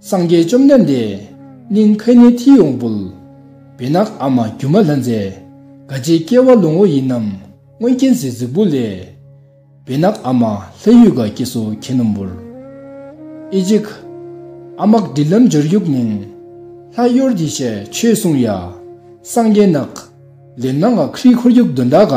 སངས་རྒྱས་བཅོམ་ལྡན་འདས། གླིང་ཕན་ནེ་ཐི་ཡོང་འབུལ། བེ་ནག་ཨ་མ་སྒྱུ་མ་ལྷ་མཛེས། དགའ་བྱེད་སྐྱེ་བ་ལོ་ངོ་ཡིན་ནམ་སྔོན་མཁྱེན་བརྩེའི་གཟིགས་བུ་ལས། བེ་ནག་ཨ་མ་ལྷ་ཡུལ་དགའ་སྐྱེ་སོ་ཁྱེད་ནོམ་འབུལ། ཨི་ཇིག། ཨ་མ་ཀ་དྲིལ་ལམ་འབྱོར་དབྱུག་མིང། ལྷ་གཡོར་གྱི་ཞལ་མཆོད་སྲུང་ཡ། སངས་རྒྱས་ནག། ལེ་ནག་ཨ་ཁྲིའི་འཁོར་རྒྱུག་གདོན་འདྲ་ག།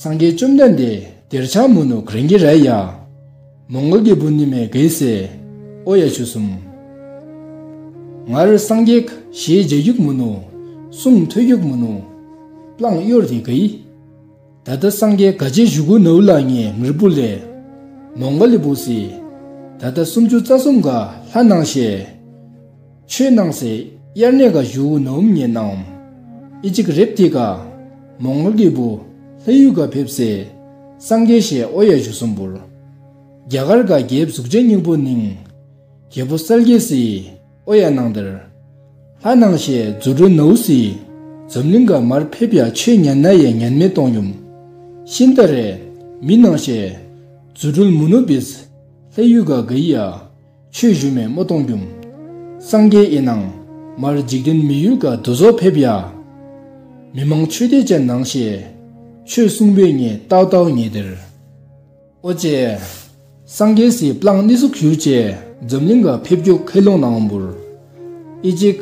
སངས་རྒྱས་བཅོམ་ལྡན་འདས་དེར་ཕྱག་མུ་ནུ་གྷརིང་ཀི་རལ་ཡཱ། མོང་གོལ་གྱི་བུ་ནི་མེ་གྷི་སེ། ཨོ་ཡ་ཆུ་གསུམ། ངར་སངས་རྒྱས་ཞེས་རྗེས་རྒྱུག་མུ་ནུ། གསུང་ཐོས་རྒྱུག་མུ་ནུ། བླངས་གཡོར་དེ་གྷི། ད་ལྟ་སངས་རྒྱས་དགའ་བྱེད་བཞུགས་གུ་ནུ་ལ་ངའི་ངར་བུ་ལས། མོང་གོལ་གྱི་བུ་སི། ད་ལྟ་སུམ་ཅུ་རྩ་གསུམ་ག་ལྷ་སྣང་ཤེས། ཆོས་སྣང་སྲིད་དབྱེར་མེད་ཀ་ཞུ་བོ་ནུབ་ཉེ་སྣང། ཨི་ཅིག་རེབ་ཏི་ཀ། མོང་ལོ་ཀི་བུ། ལྷ་ཡུལ་ཀ་ཕེབས་སེ། སངས་རྒྱས་ཞེས་ཨོ་ཡ་བཞུ་གསུམ་བུར། རྒྱ་གར་ཀ་རྒྱའི་གཟུགས་ཅན་སྙིང་པོ་སྣིང། རྒྱལ་པོ་སལ་ཀེ་སི། ཨོ་ཡ་སྣང་དེར། ལྷ་སྣང་ཞེས་རྫུ་འཕྲུལ་ནུའུ་སི། འཛམ་གླིང་ཀ་མར་ཕེབས་ཡ་ཆོས་ཉན་ན་ཡ་ཉན་མེད་སྟོང་ཡུམ། ཤིན་ཏ་རེ། མི་སྣང་ཞེས། རྫུ་འཕྲུལ་མུ་ནུ་བིས། ལྷ་ཡུལ་ཀ་ག་ཡི་ཡ། ཆོས་བཞུགས་མས་རྨོ་སྟོང་རྒྱུམ། སངས་རྒྱས་དབྱེ་ནང། མར་འཇིག་རྟེན་མི་ཡུལ་ག་དུ་ཟོ་ཕེབས་ཡ། མི་མང་ཆོས་སྡེ་བཅས་ནང་ཤེས། ཆོས་གསུང་པོད་ངས་རྟག་རྟག་ངེས་དེར། ཨོ་ཅེ། སངས་རྒྱས་སྲིད་པླངས་གནས་སུ་གྱུར་བཅས་འཛམ་གླིང་ག་ཕེབས་རྒྱུ་ཁས་ལུང་ནང་འབུར། ཨི་ཅིག།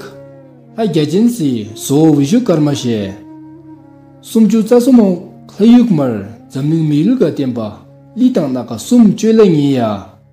ལྷ་རྒྱ་ཅན་སྲིད་བཟོ་འོ་བཞུགས་སྐར་མ་ཞེས། སུམ་བཅུ་རྩ་གསུམ་འོག་ལྷ་ཡུལ་མར་འཛམ་གླིང་མི་ཡུལ་ག་བསྟན་པ་ལི་དང་སྣ་ཁ་གསུམ་བཅོས་ལ་ཉེ་ཡ།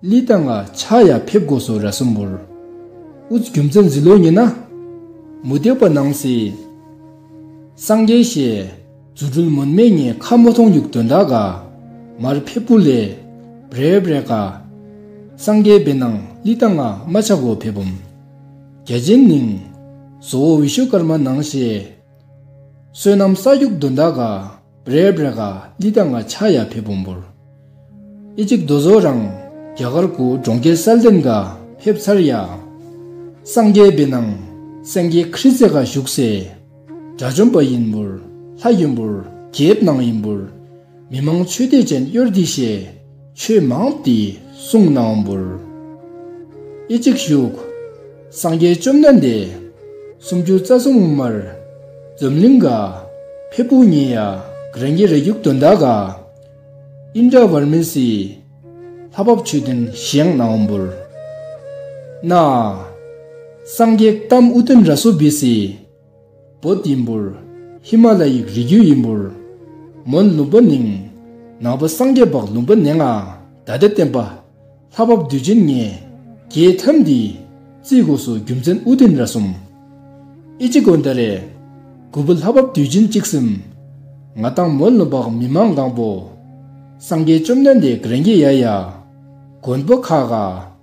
ལི་ཏང་ལ་ཕྱག་ཡར་ཕེབས་དགོས་སོ་ར་སུམ་བོར། ཨུཏ་རྒྱུ་མཚན་འཛི་ལོ་ཉི་ན། མུ་སྟེགས་པ་སྣང་སྲིད། སངས་རྒྱས་བཤད། རྫུ་འཕྲུལ་མུན་སྨད་ཉེན་ཁ་མོ་མཐོང་ཡུག་དོན་དག་ག། མར་ཕེབས་པུ་ལས། བརེ་བརེ་ག། སངས་རྒྱས་བེ་སྣང་ལི་ཏང་ང་མ་ཕྱག་བོར་ཕེབས་བུམ། རྒྱ་རྗེན་ནིང། བཟོ་བོ་འི་ཤོ་དཀར་མ་སྣང་བཤད། བསོད་ནམས་ས་རྒྱུག་དོན་དག་ག། རེས་བྲེ་ག་ལི་ཏཱ་ང་ཆ་ཡ་ཕེ་བོང་བོར། ཨེ་ཅིབ་རྡོ་བཟོ་རང། རྒྱ་གར་གུ་གྲོང་ཁྱེར་སལ་ཏེམ་ག་ཕེབས་ཚར་ཡ། སངས་རྒྱས་བི་ནང། སེང་གེའི་ཁྲི་རྩེ་ག་བཞུགས་སའི། དགྲ་བཅོམ་པ་ཡིན་བོར། ལྷ་ཡིན་བོར་རྒྱལ་བི་ནང་ཡིན་བོར། མི་མང་ཆོས་སྡེ་ཅན་གཡོར་འདི་བཞེས། ཆོས་མང་དེས་གསུངས་གནང་འབུལ། ཨེ་ཅིག་བཞུགས། སངས་རྒྱས་བཅོམ་ལྡན་འདས། སུམ་ཅུ་རྩ་གསུམ་དབུ་མར། འཛམ་གླིང་ག། ཕེབས་པོ་ཉིད་ཡ། རང་རྒྱལ་རས་རྒྱུགས་དོན་དག་ག། ཨིནྡྲ་བར་མི་སི། ལྷ་བབས་མཆོད་རྟེན་བཞེངས་གནང་འབུལ། ན། སངས་རྒྱས་གཏམ་དབུ་སྟོན་ར་སོ་བི་སི། བོད་ཡིན་འབུར། ཧི་མ་ལ་ཡིག་རིགས་རྒྱུད་ཡིན་འབུར། མོན་ལུང་པ་ནིང། ནག་པོ་སངས་རྒྱས་འབག་ལུང་པ་ནེ་ང་ད་ལྟ་བསྟན་པ། ལྷ་བབས་བདུད་བྱིན་ངེས། རྒྱའི་ཐབས་འདི། རྩིས་སྒོ་སོ་རྒྱུ་མཚན་དབུ་ལྡན་ར་གསུམ། ཨི་ཅི་དགོན་ད་རེ། དགུ་པོ་ལྷ་བབས་བདུད་བྱིན་གཅིག་གསུམ། ང་ཏང་མོན་ལུང་འབག་མི་མང་གང་པོ། སངས་རྒྱས་བཅོམ་ལྡན་འདས་ག་རེ་འགྱེད་ཡ་ཡ། མགོན་པོ་ཁ་ག།